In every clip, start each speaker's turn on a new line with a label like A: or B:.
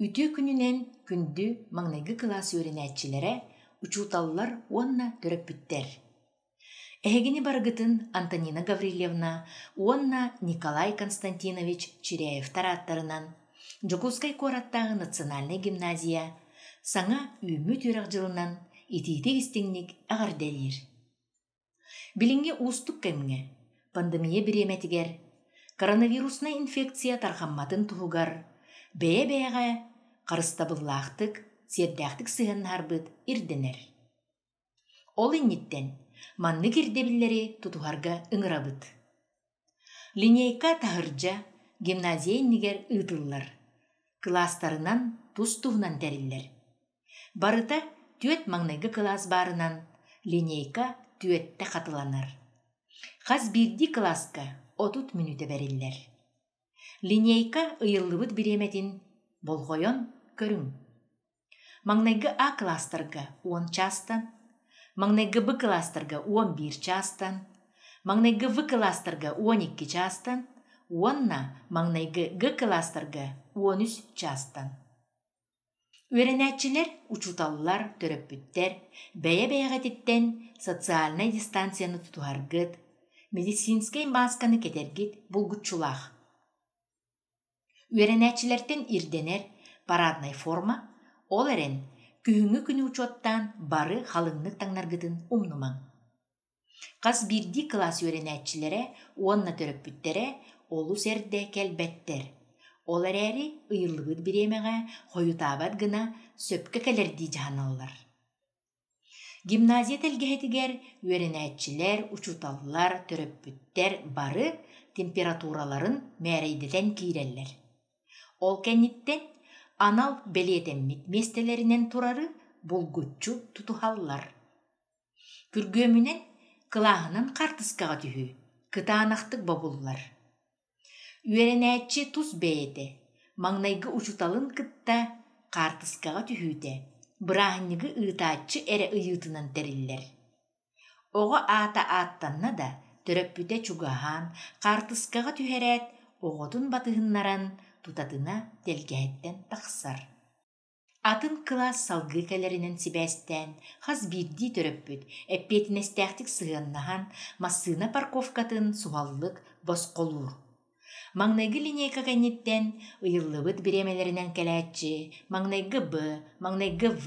A: Үтүө күнүнэн күндү маҥнайгы кылаас үөрэнээччилэрэ, учууталлар уонна төрөппүттэр! Эһигини барыгытын Антонина Гаврильевна уонна Николай Константинович Чиряевтар ааттарынан Дьокуускай куораттааҕы национальнай гимназия саҥа үүммүт үөрэх дьылынан итиитик-истиҥник эҕэрдэлиир! Билиҥҥи уустук кэмҥэ пандемия бириэмэтигэр коронавируснай инфекция тарҕамматын туһугар бэйэ-бэйэҕэ харыстабыллаахтык, сиэрдээхтик сыһыаннаһарбыт ирдэнэр. Ол инниттэн маннык ирдэбиллэри тутуһарга ыҥырабыт. Линейка таһырдьа гимназия иннигэр ыытыллар, кылаастарынан тус-туһунан тэриллэр. Барыта түөрт маҥнайгы кылаас баарынан линейка түөртэ хатыланар. Хас биирдии кылааска отут мүнүүтэ бэриллэр. Линейка ыйыллыбыт бириэмэтин болҕойон көрүҥ. Маҥнайгы А кылаастарга уон чаастан, маҥнайгы Б кылаастарга уон биир чаастан, маҥнайгы В кылаастарга уон икки чаастан уонна маҥнайгы Г кылаастарга уон үс чаастан. Үөрэнээччилэр, учууталлар, төрөппүттэр бэйэ-бэйэҕититтэн социальнай дистанцияны тутуһаргыт, медицинскэй маасканы кэтэргит булгуччулаах. Үөрэнээччилэртэн ирдэнэр параднай форма, ол эрэн, күһүҥҥү күнү учуоттаан бары халыҥнык таҥнаргытын умнумаҥ. Хас биирдии кылаас үөрэнээччилэрэ уонна төрөппүттэрэ олус эрдэ кэлбэттэр. Ол эрээри ыйыллыбыт бириэмэҕэ хойутаабат гына сөпкө кэлэрдии дьаһаналлар. Гимназия тэлгэһэтигэр үөрэнээччилэр, учууталлар, төрөппүттэр бары температураларын мээрэйдэтэн киирэллэр. Ол кэнниттэн анал бэлиэтэммит миэстэлэринэн турары булгуччу тутуһаллар. Күргүөмүнэн, кылааһынан хаартыскаҕа түһүү, кытаанахтык бобуллар. Үөрэнээччи тус бэйэтэ маҥнайгы учууталын кытта хаартыскаҕа түһүүтэ, бырааһынньыгы ыытааччы эрэ ыйыытынан тэриллэр. Оҕо аата ааттанна да, төрөппүтэ чугаһаан, хаартыскаҕа түһэрээт, оҕотун батыһыннаран, тутатына тэлгэһэттэн тахсар. Атын кылаас салгыы кэлэринэн сибээстээн, хас биирдии төрөппүт эппиэтинэстээхтик сыһыаннаһан, массыына парковкатын суһаллык босхолуур. Маҥнайгы линейка кэнниттэн ыйыллыбыт бириэмэлэринэн кэлээччи маҥнайгы Б, маҥнайгы В,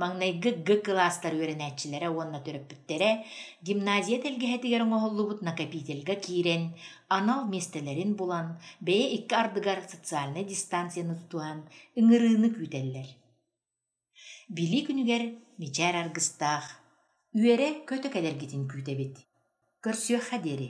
A: маҥнайгы Г кылаастар үөрэнээччилэрэ уонна төрөппүттэрэ гимназия тэлгэһэтигэр оҥоһуллубут накопительга киирэн, анал миэстэлэрин булан, бэйэ икки ардыгар социальнай дистанцияны тутуһан ыҥырыыны күүтэллэр. Билии күнүгэр мичээр аргыстаах, үөрэ-көтө кэлэргитин күүтэбит. Көрсүөххэ диэри